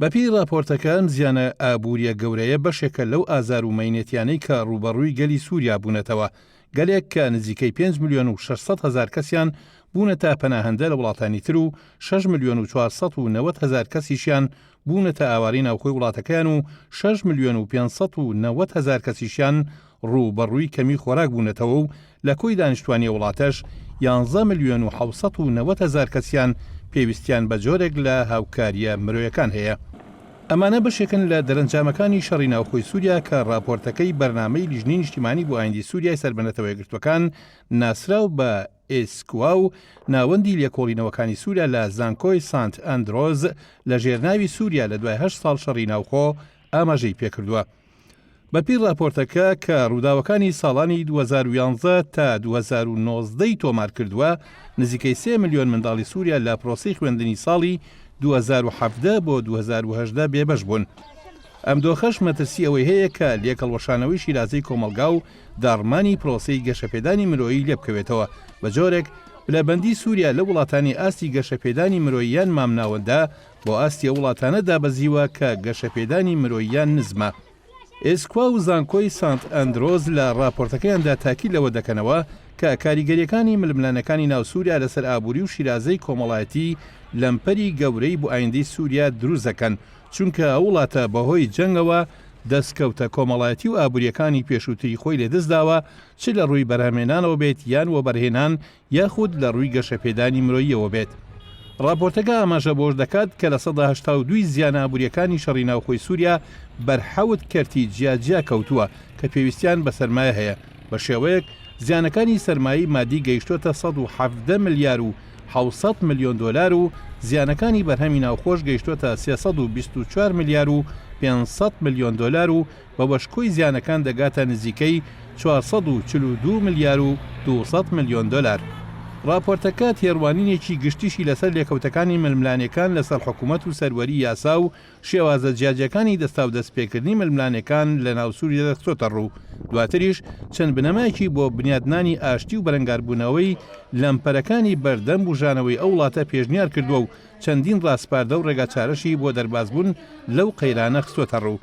بەپێی ڕاپۆرتەکە ئەم زیانە ئابووریە گەورەیە بەشێکە لەو ئازار و مەینەتیانەی کە ڕووبەڕووی گەلی سووریا بوونەتەوە، گەلێک کە نزیکەی پێنج ملیۆن و شەش سەد هەزار کەسیان بوونەتە پەناهەندە لە وڵاتانی تر و شەش ملیۆن و چوار سەد و نەوەد هەزار کەسیشیان بوونەتە ئاوارەی ناوخۆی وڵاتەکەیان و شەش ملیۆن و پێنج سەد و نەوەد هەزار کەسیشیان ڕووبەڕووی کەمی خۆراک بوونەتەوە و لە کۆی دانیشتوانی وڵاتەش یانزە ملیۆن و حەوت سەد و نەوەد هەزار کەسیان پێویستیان بە جۆرێک لە هاوکارییە مرۆیەکان هەیە. ئەمانە بەشێکن لە دەرەنجامەکانی شەڕی ناوخۆی سوریا کە ڕاپۆرتەکەی بەرنامەی لیژنەی نیشتیمانی بۆ ئایندی سوریای سەر بە نەتەوە یەکگرتووەکان ناسراو بە ئیسکوا و ناوەندی لێکۆڵینەوەکانی سوریا لە زانکۆی سانت ئەندرۆز لە ژێرناوی سوریا لە دوای هەشت ساڵ شەڕی ناوخۆ ئاماژەی پێکردووە. بەپێی ڕاپۆرتەکە کە ڕووداوەکانی ساڵانی دوو هەزار و یانزە تا دوو هەزار و نۆزدە ی تۆمار کردووە، نزیکەی سێ ملیۆن منداڵی سووریا لە پرۆسەی خوێندنی ساڵی دوو هەزار و حەڤدە بۆ دوو هەزار و هەژدە بێبەش بوون. ئەم دۆخەش مەترسی ئەوەی هەیە کە لێکهەڵوەشانەوەی شیرازەی کۆمەڵگا و داڕمانی پرۆسەی گەشەپێدانی مرۆیی لێبکەوێتەوە بە جۆرێک پلەبەندی سووریا لەو وڵاتانی ئاستی گەشەپێدانی مرۆییان مامناوەندە بۆ ئاستی ئەو وڵاتانە دابەزیوە کە گەشەپێدانی مرۆییان نزمە. ئێسکوا و زانکۆی سانت ئەندرۆز لە ڕاپۆرتەکەیاندا تاکید لەوە دەکەنەوە کە کاریگەرییەکانی ململانێکانی ناو سووریا لەسەر ئابووری و شیرازەی کۆمەڵایەتی لەمپەری گەورەی بۆ ئایندەی سووریا دروست دەکەن، چونکە ئەو وڵاتە بەهۆی جەنگەوە دەستکەوتە کۆمەڵایەتی و ئابوورییەکانی پێشووتری خۆی لەدەستداوە، چ لە ڕووی بەرهەمهێنانەوە بێت یان وەبەرهێنان یاخود لە ڕووی گەشەپێدانی مرۆییەوە بێت. ڕاپۆرتەکە ئاماژە بەوەش دەکات کە لە سەدا هەشتا و دوو ی زیانە ئابوورییەکانی شەڕی ناوخۆی سووریا بەر حەوت کەرتی جیاجیا کەوتووە کە پێویستیان بە سەرمایە هەیە، بە شێوەیەک زیانەکانی سەرمایەی مادی گەیشتووەتە سەد و حەڤدە ملیار و حەوت سەد ملیۆن دۆلار و زیانەکانی بەرهەمی ناوخۆش گەیشتووەتە سێ سەد و بیست و چوار ملیار و پێنج سەد ملیۆن دۆلار و بەوەش کۆی زیانەکان دەگاتە نزیکەی چوار سەد و چل و دوو ملیار و دوو سەد ملیۆن دۆلار. ڕاپۆرتەکە تێڕوانینێکی گشتیشی لەسەر لێکەوتەکانی ململانێکان لەسەر حکومەت و سەروەری یاسا و شێوازە جیاجیاکانی دەستاودەستپێکردنی ململانێکان لەناو سوریادا خستۆتەڕوو، دواتریش چەند بنەمایەکی بۆ بنیادنانی ئاشتی و بەرەنگاربوونەوەی لەمپەرەکانی بەردەم بوژانەوەی ئەو وڵاتە پێشنیارکردووە و چەندین ڕاسپاردە و ڕێگاچارەشی بۆ دەربازبوون لەو قەیرانە خستۆتەڕوو.